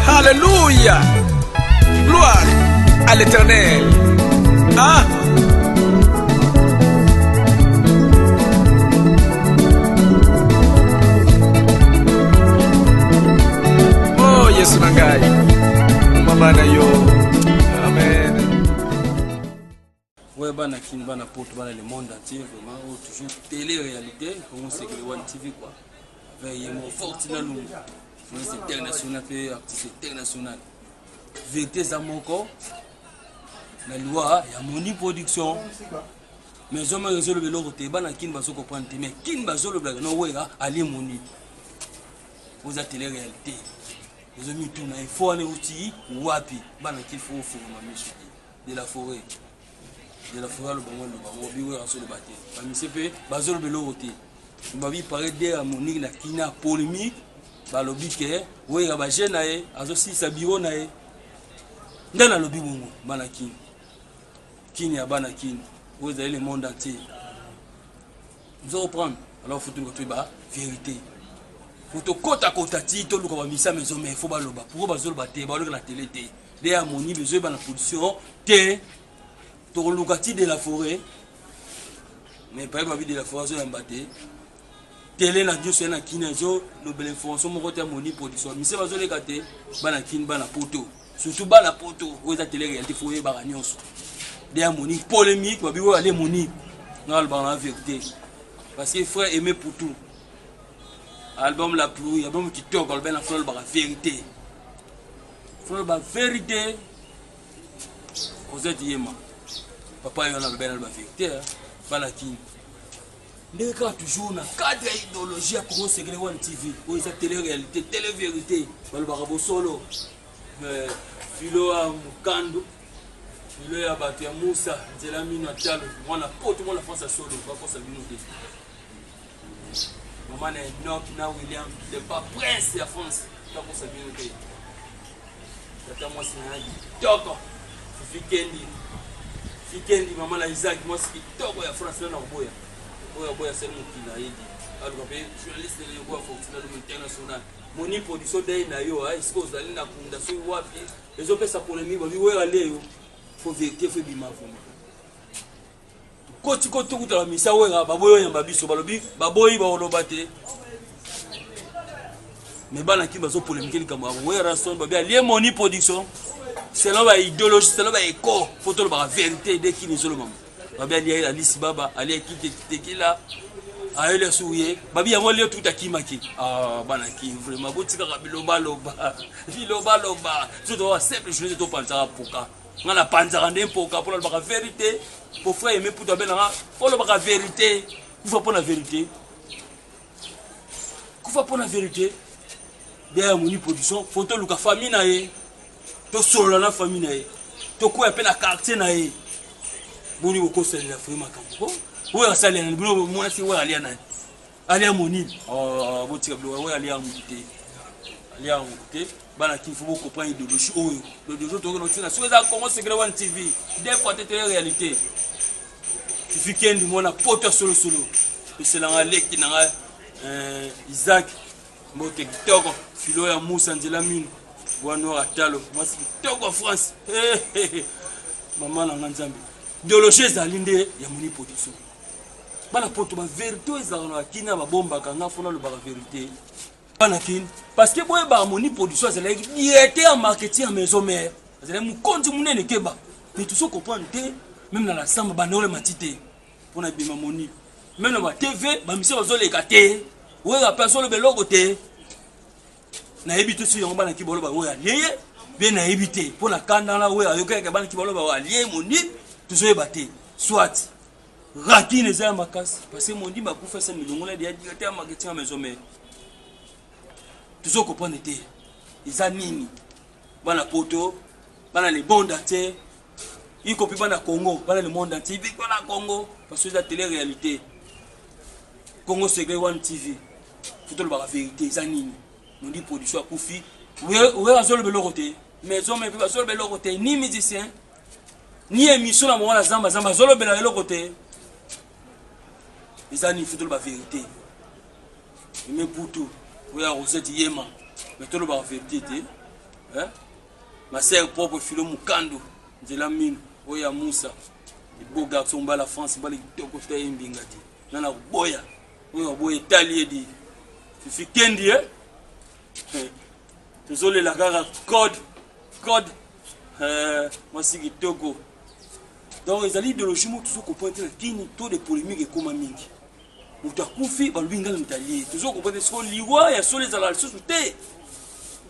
Alléluia. Gloire à l'éternel. Ah. Oh, Yesu na ngai. Mama na yo. Ouais bana kin bana poto bana le monde entier vraiment oh, toujours télé réalité Congo Sekele One TV quoi avec Yemo Fortina Lungu journaliste international pe artiste international vérité eza moko na liwa ya Moni Production mais zo ma zo lobelo ko te bana kin bazo comprendre te mais kin bazo lobela no wera ali Moni oza télé réalité ozo mituna il faut aller outi wapi bana kin faut faut ma misu de la foret de la foret aloba ngo aloba ngo biwera azoloba te bamise mpe bazoloba eloko te babi pare de ya monique na kina polémique balobi ke wera baje na ye azosilisa biro na ye nde nalobi bongo bana kini kini ya bana kini oyo ezali le monde entier Ozo comprendre? Alors faut toluka toyeba verite. Faut tokota kota ti toluka ba misa mais mais faut baloba. Pourquoi bazoloba te? Baloka na tele te. Nde ya moni bezoyeba na position te. Tokoluka ti de la forêt. Mais paye babi de la forêt azoyamba te. tele na nioso ya na kini ezolobela information moko te ya moni production mise bazoleka te bana kini bana poto Surtout bana poto oyo eza tele réalité faut oyebaka nyonso. Dea Monique polémique babi oyo ale Monique. Nga alobaka na vérité. Parce que frère Aimé Poutou album la pluie album kitoko alobaki na frère alobaka vérité. Frère alobaka vérité. Rosette Yema. Papa yo na alobaki na alobaka vérité. Bana King. ndenge kaka toujours na cadre ya idéologie ya congo segele one tv oyo eza tele réalité tele vérité balobaka bosolo euh, filo ya mokandu filo ya bato ya musa nzela mino ya talo mwana poto mwana france ya solo bakosa bino te mama na enoki na william de pa prince ya france bakosa bino te tata mwasi na ya kitoko fikendi fikendi mama na isaac mwasi kitoko ya france na nakoboya oyo aboya sali mokili na yedi aluka mpe journaliste leyokoya fortune aluka international moni production dei na yo esika ozali na kunda soki wapi ezopesa polemi babi wera nde yo fo verité fo ebima vraimen Koti ko tukuta ba misa wera baboyi oyamba biso balobi baboyi baoloba te mais bana kimi bazo polemike likambo ya werrason babi alie moni production selon ba idéologie selon ba éco fo tolobaka vérité de kini ezolobama babi alie alisi baba alie kitekitekila ayeli asuku ye babi yango lio tukuta kimaki ah, bana ki vraiment botikaka bilobaloba bilobaloba biso toaa simple journée topanzaka poka nga na panzaka nde mpoka mpo nalobaka verite mpo frère yeme putu abelanga olobaka verite kufa mpo na verite kufa mpo na verite bia ya moni production fo toluka famille na ye tosolola na famille na ye tokwea mpe na quartier na ye boni bokosalela fo ye makambo oyo asalela nani bino mwasi oyo alia nani alia monini oh, botika biloko yango alia yango te alia yango te bana kin fo bocomprendre idéologie oyo idéologie oyo tokoki notina soki eza congo secret one tv de fois te tele réalité tifi kendi mwana poto ya solosolo pesela nga leki na nga eh, isaac mbote kitoko filo ya musa nzela mino bwa noir atalo mwasi kitoko ya france mama na nga nzambe idéologie ezali nde ya moni production bana poto ba verite oyo ezalaka na kini ba bombaka nga fona lobaka verite bana kini parce que boye ba moni production azalaki directeur ya marketing ya maison mère azalaki mokonzi monene keba mais tu so comprendre te même na la samba bana ole mati te pona bima moni même na ba tv ba mise bazoleka te wera pe azoloba eloko te nayebi te soki yango bana ki boloba oyo alie ye mpe nayebi te mpo na kanda na oyo ayokaki bana ki boloba oyo alie moni tozoyeba te soit Ratin eza ya makasi parce que mondimba akufa esa milongola ya directeur ya marketing ya maison mère tozo comprendre te eza nini bana poto bana le monde entier y compris bana congo bana le monde entier ibi bana congo parce que eza tele réalité congo secret one tv fo tolobaka vérité eza nini mondi production akufi oyo azoloba eloko te maison mère mpe bazoloba eloko te ni musicien ni emission na mwana zamba zamba azolobela eloko te eza ni futolo ba verité eme butu oya rosette yema me tolobaka verité te hein? masere propre filo mokando nzela mino oyo ya musa beau garçon mbala france mbala kitoko ta ye mbinga te nga na koboya oyo akoboya etali ye di fifi kendi e eh? tozolela kaka code code euh, mwasi kitoko donc ezali idéologie moto tozo comprendre te na kini to de polémique ekoma mingi moto akufi balobi ngai na moto alie tozo comprendre te soko liwa ya solo ezalaka lisusu te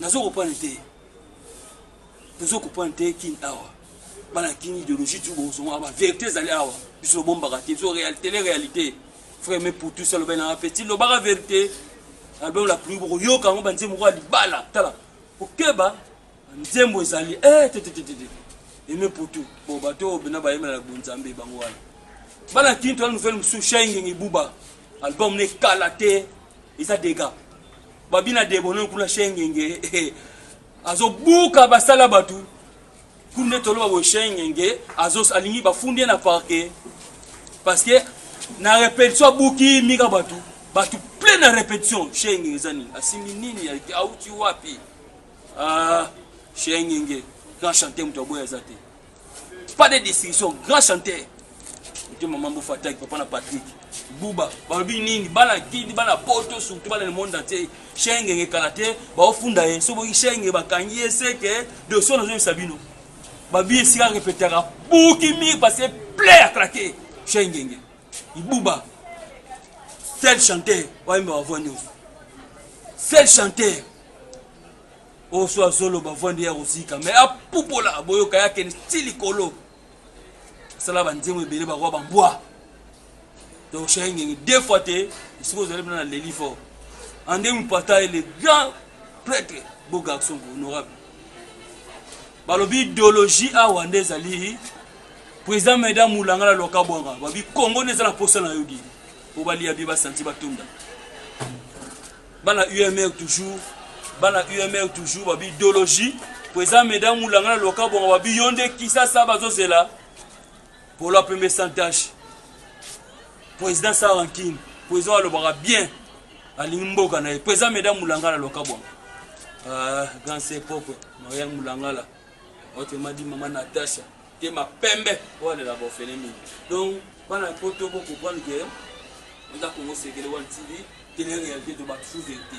nazo comprendre te tozo comprendre te kini awa bana kini idéologie tu bozonga ba vérité ezali awa biso lobombaka te biso tele réalité frère me pour tout ça loba na petit lobaka vérité album la pluie boko yoka yango ba nzembo kwa libala tala kokeba nzembo ezali eh te te te te eme pour tout bon bato bena bayemela na bonzambe bango wana bana kini tola nouvelle mosusu shaingenge buba album ne kala te eza dega babina debono kuna shaingenge azobuka basala bato Kuna nde toloba boye Shengenge azo alingi bafundi ye na parquet parce que na repetition abuki mika bato bato plein na repetition Shengenge eza nini asimbi nini auti wapi ah, Shengenge grand chanteur moto aboya eza te pas de distinction grand chanteur Ote maman Bofa attaque papa na Patrick. Buba, balobi nini? Bana kidi, bana poto, surtout bana le monde entier. Shenge nge kalate, ba ofunda ye. Sobo ki shenge ba kangi ye seke de son ozo sabino. Ba bi esika repetaka buki mi parce play à craquer. Shenge nge. Ibuba. Seul chanteur, wa imba wa voix news. Seul chanteur. Oso azolo ba voix ndia kozika, mais apupola boyoka yake stili kolo. sala ba nzembo ebele ba roi ba mbwa donc shenge ngenge deux fois te esika ozali mpena na leli fort ande mupata ye le grand prêtre beau garçon honorable balobi idéologie awa nde ezali président meda mulanga na loka bwanga babi kongo nde eza na mposa na yo di mpo balia bie basanti batunda Bana UMR toujours, bana UMR toujours babi idologie po eza medam mulanga na loka bongo babi yo nde kisasa bazozela polo apembe sans tache président sa rankine président alobaka bien alingi mboka na ye po eza medam mulanga na loka bongo ah, grand se propre marian mulangala otemadi mama natasha te ma pembe wana la bofele mingi donc bana poto bo comprendre que eza Congo sekele wana TV tele réalité to ba sous vérité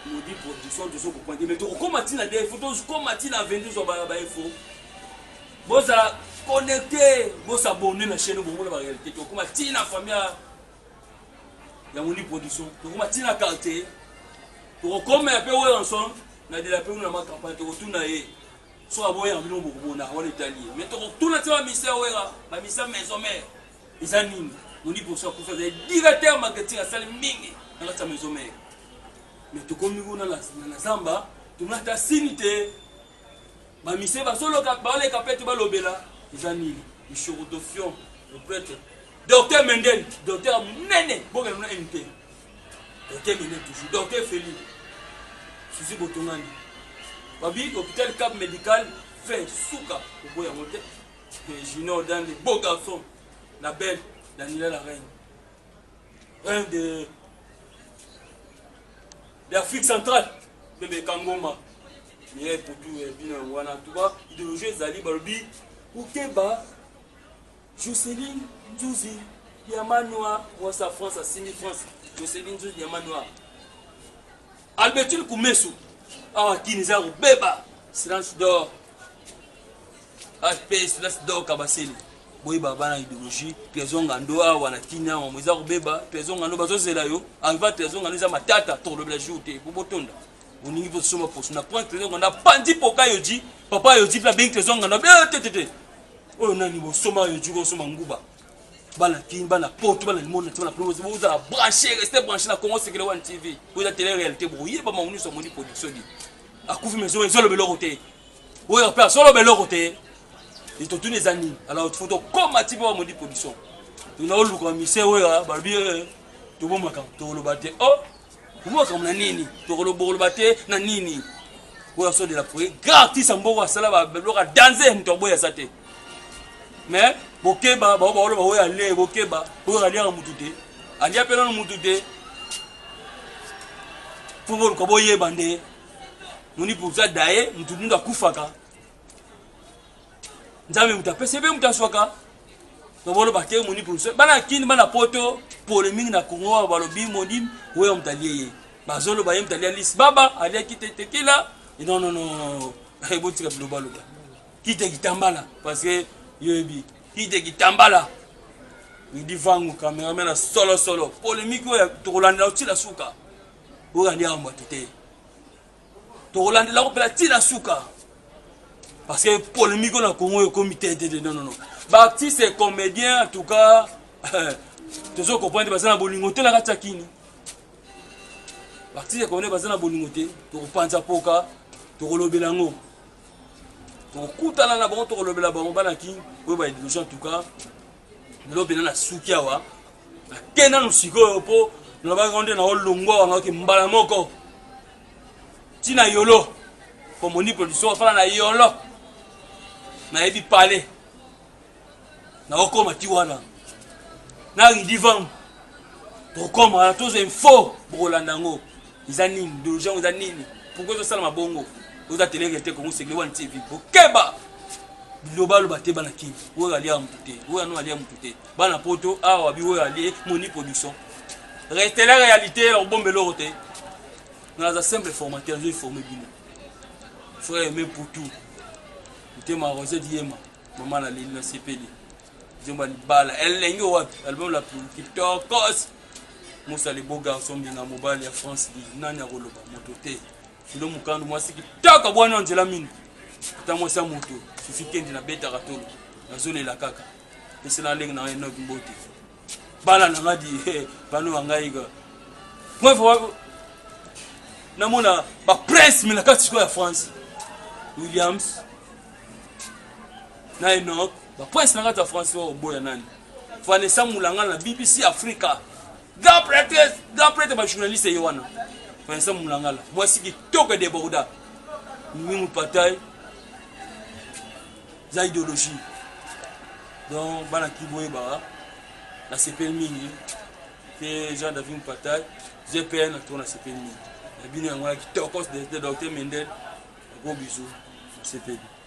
modi production tozo comprendre te mais to koma tina de info to koma tina 22 zo ba ba info bozala connecte bo s'abonner na chaîne bongo na ba réalité to koma tina famille ya modi production to koma tina quartier to koma pe Wilson na de la pe na ma campagne to tuna ye Soki aboya na bino bokomona wana etali ye mais tokotuna ti ba misa ya wera ba misa maison mère eza nini moni poso akufi azali directeur marketing asali mingi na kati ya maison mère mais tokomi kuna na zamba tomona ata sini te ba mise bazoloka baleka pete balobela eza nini mishorotofion le prêtre docteur mendel docteur ya monene bokende na nte Totemene toujours. Docteur Feli, Suzy Botongani. Babi hôpital Cap Medical fait suka oboya yango te. Mais Junior Dande, beau garçon, la belle, Daniela la reine. Reine de d'Afrique centrale, bebe Kangoma. Mireille Potou et eh, Bino Wana, tout bas, idéologie Zali Balobi, Outeba, Joceline Nzuzi diamant noir mwasi ya France asimbi France Joceline Nzuzi diamant noir Albertine Kumesu awa kini eza kobeba silence d'or HP silence d'or Kabasele boyeba bana ideologie trésor ngando awa na kini awa eza kobeba trésor ngando bazozela yo alva trésor ngando eza matata tokolobela jour te po botonda olingi mpe soma poso na pointe lelo nganda panzi poka yo ji papa yo ji mpe abengi trésor nganda be eh, te te te oyo nani bosoma yo ji kosoma nguba bana kin bana poto bana limona ti bana promosi bozala branché reste branché na congo sekele wan tv oza tele réalité bokoyeba bango nyonso amoni production di akufi mais ezoloba eloko te oyo mpe azoloba eloko te etotuni eza nini alors fo tokoma ti mpe bamodi production tona oluka mise oyo balobi eh, tobomaka toloba te o oh, Omo makambo na nini? Tokolo bokoloba te na nini? Oyo aso de la foyer grand artiste ya mboka asala ba biloko ya danze moto aboyi aza te. Mais bokeba bao baoloba oyo ale bokeba oyo aliaka motu te alia mpe nano motu te mpo boluka boyeba nde moni mpoza daye motu mundu akufaka nzambe moto apesi mpe moto aswaka nabolo bakei moni production bana kini bana poto pole mingi na kongo oyo balobi moni oyo moto alie ye bazoloba ye moto alia lisi baba aliaki te tekila nonono ebotika bilobaloba kite kitambala parce que yoyebi kite kitambala idi vangu kamerame na solosolo polemiki oyo tokolandela otila suka oyo alia yango bato te tokolandela kopela ti na suka parce que polémique na congo ekomi tetete non non non baartiste et comédien en tout cas tozo comprendre baza na bolingo te na kati ya kini baartiste et comédien baza na bolingo te tokopanza poka tokolobela yango tokokutana na bango tokolobela bango bana kini oyo baedilogé en tout cas lobi na nasuki awa nake nanu sikoyo mpo nalobaki ngo nde naolongwa awa naoki mbala moko ntina yolo mpo moni production afana na yolo nayebi pale naokoma ti wana na ridivam tokoma wana toza info bokolanda yango Eza nini doja yango eza nini? Pourquoi ezo salama bongo? Oza tele rete Congo Segre One TV. Bokeba! Biloba loba te bana King. Oyo alia mutu te. Oyo anu alia mutu te. Bana poto awa bi oyo alie moni production. Reste la réalité ya bombe loro te. Naza simple formateur, je forme bino. Frère mais pour tout. Mutema Rosette Yema, maman la Lili na sepeli. Jomba libala elenge wapi album la kitokos Musa le beau garçon mbinga mobali ya France di nani akoloba moto te Filo Mukandu mwasi kitoko bwana nzela mingi ata mwasi ya moto sufi kendi na betaka tolo nazolela kaka pesela ndenge na Enoch Mbote bala na ngadi bano wa ngai ka bref namona ba prince me na kati sikoyo ya France Williams na Enoch Ba points na kati ya France oyo oboya nani? Vanessa Mulangala na BBC Africa. Grand prêtre, grand prêtre ba journaliste ye wana. Vanessa Mulangala, mwasi kitoko deborda. Mimi Patai za ideologie. Donc bana kiboye ba na sepel mingi te Jean David Mpatai GPN na tona sepel mingi. Na bino yango na kitoko de Dr Mendel. Gros bisous. Sepel.